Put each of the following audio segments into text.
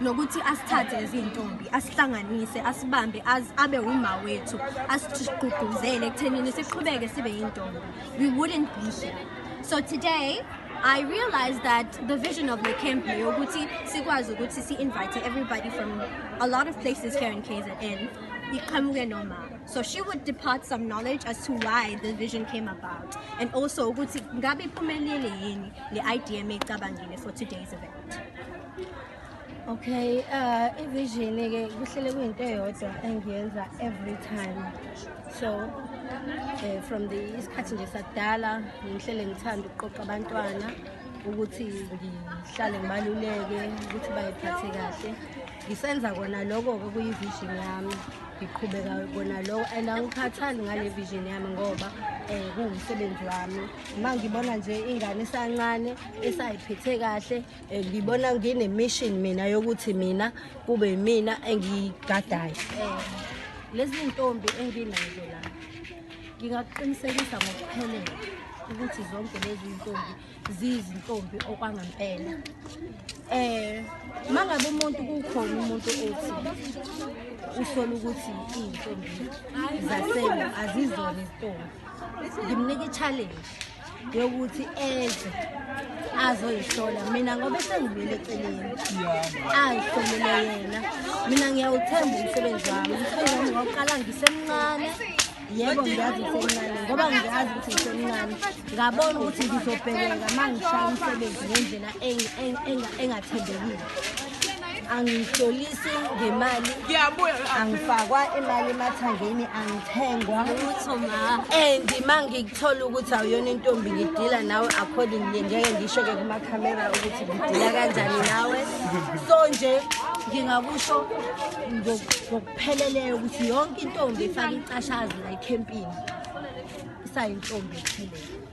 nokuthi asithathe ezintombi asihlanganise asibambe abe uma wethu asigqugquzele ekuthenini siqhubeke sibe yintombi we wouldn't be here so today I realized that the vision of the camp ukuthi sikwazi ukuthi si invite everybody from a lot of places here in KZN iqhamuke noma so she would depart some knowledge as to why the vision came about and also ukuthi ngabe iphumelele yini le idea meyicabangile for today's event Okay, uh ivision ke kuhlele kuyinto eyodwa engiyenza every time. So eh from the isikhathi nje sakudala ngihlele ngithanda ukuqoqa abantwana ukuthi ngihlale ngibaluleke ukuthi bayiphathe kahle. Ngisenza kona lokho ke kuyivision yami. Ngiqhubeka kona lokho and angikhathali ngale vision yami ngoba eh kuwumsebenzi wami. Uma ngibona nje ingane isancane esayiphethe kahle Eh, ngibona nginemishini mina yokuthi mina kube imina engigadayo eh, lezi ntombi enginazo la ngingakuqinisekisa ngokuphelele ukuthi zonke lezi ntombi ziyizintombi okwangempela eh mangabe umuntu kukhona umuntu othi usola ukuthi izintombi zasema azizona izintombi ngimnika i-challenge yokuthi eze azoyihlola mina ngoba esengibuyele eceleni ayihlolele yena mina ngiyawuthemba umsebenzi wami umsebenzi wami ngawuqala ngisemncane yebo ngiyazi ngisemncane ngoba ngiyazi ukuthi ngisemncane ngabona ukuthi ngizobhekeka uma ngishaya umsebenzi ngendlela engathembekile angihlolisi ngemali angifakwa imali emathangeni angithengwa and ma ngikuthola ukuthi awuyona intombi ngidila nawe according le ngeke ngisho-ke kumakhamera ukuthi ngidila kanjani nawe so nje ngingakusho ngokupheleleyo ukuthi yonke intombi ifake icashazi la ekhempini isayintombi ephelele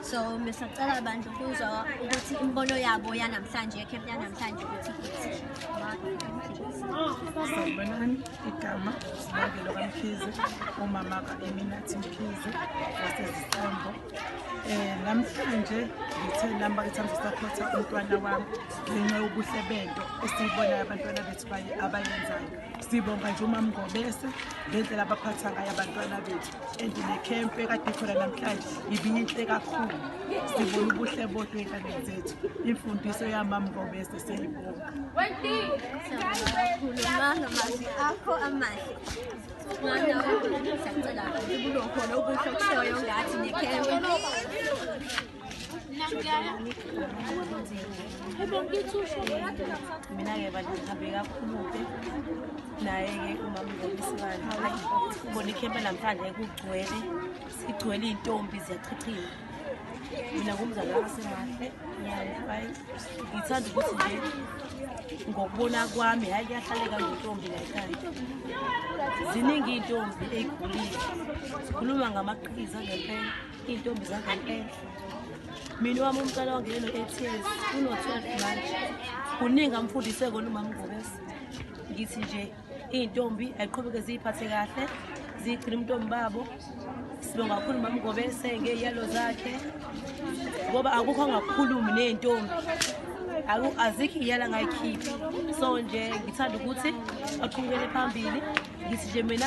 so besacela abantu ukuzwa ukuthi imibono yabo yanamhlanje yekhempu yanamhlanje ukuthi sanibonani igama sibangelo kamkhize umama ka-eminathi mkhize wasezistambo um eh, namhlanje ngithe nami bakithambe sakhotha umntwana wami ngenxa yobuhle bento esiyibonayo abantwana bethu abayenzayo sibonga nje umamngobese ngendlela abaphatha ngayo abantwana bethu and nekhempu ekade khona namhlanje ibiyinhle kakhulu sibona ubuhle bodwa ey'nganeni zethu imfundiso yamami ngobese seyibonga mazwi akho amahle mwana wami siyacela ukuthi kulokhona ubuhle okushoyo ngathi nekhempu mina-ke bantu ngihambe kakhulu-ke naye-ke umamngobisibani ubona ikhempe namhlanje kugcwele sigcwele iy'ntombi ziyachichima mina ngumzali wasemandle ngiyayi ngithanda ukuthi nje ngokubona kwami hhayi kuyahlaleka ngentombi layikhaya ziningi iy'ntombi ey'gulile zikhuluma ngamaqhiza ngempela Iy'ntombi zangampela mina wami umcala wangene no-ats uno-twelve manje kuningi amfundise kona umama ngobese ngithi nje iy'ntombi ayiqhubeke ziyiphathe kahle zigcina umntombi babo sibonga kakhulu umama ngobese ngeyalo zakhe ngoba akukho angakhulumi ney'ntombi azikho iyala ngayikhiphi so nje ngithanda ukuthi aqhubukele phambili ngithi nje mina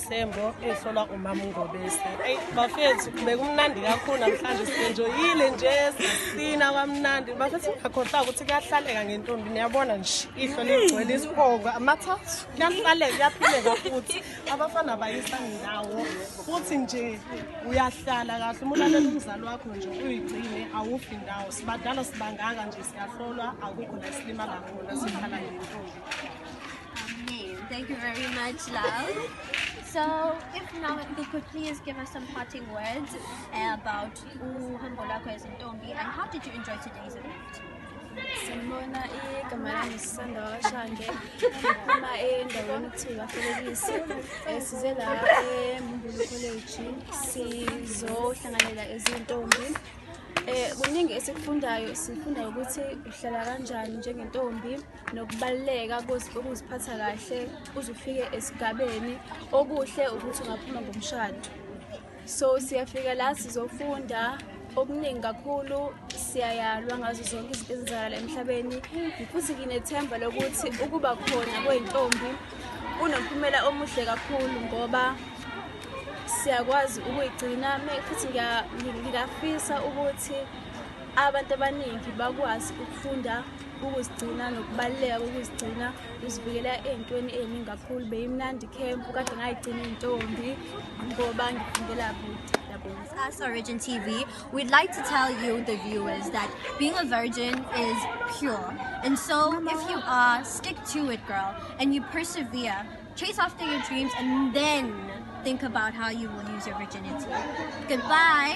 Sembo esolwa umama uNgobese. Hey bafethu bekumnandi kakhulu namhlanje sisenjoyile nje sisina kwamnandi. Bafethu ngakhohlwa ukuthi kuyahlaleka ngentombi niyabona nje ihlo ligcwele isiphongo amathathu. Kuyahlaleka kuyaphileka futhi abafana bayisa ndawo futhi nje uyahlala kahle umuntu alele umzali wakho nje uyigcine awufi ndawo sibadala sibangaka nje siyahlolwa akukho la silimala khona sikhala ngentombi. Amen. Thank you very much, love. So, if now you could please give us some parting words uh, about uhambo lwakho as intombi and how did you enjoy today's event? Sanibona igama lami sisanda washange uma endaweni kuthiwa felekisi um size la emumbulu college sizohlanganela ezintombi um kuningi esikufundayo sifunda ukuthi uhlala kanjani njengentombi nokubaluleka kokuziphatha kahle uze ufike esigabeni okuhle ukuthi ungaphuma ngomshado so siyafika la sizofunda okuningi kakhulu siyayalwa ngazo zonke izinto ezenzakala emhlabeni futhi nginethemba lokuthi ukuba khona kwey'ntombi kunomphumela omuhle kakhulu ngoba siyakwazi ukuyigcina futhi ngiyafisa ukuthi abantu abaningi bakwazi ukufunda ukuzigcina nokubaluleka kokuzigcina uzivikela ey'ntweni ey'ningi kakhulu beyimnandi ikhempu kade ngayigcina iy'ntombi ngoba ngifundela kude As a Virgin TV, we'd like to tell you, the viewers, that being a virgin is pure. And so, Mama. if you are, stick to it, girl, and you persevere, chase after your dreams, and then think about how you will use your virginity. Goodbye.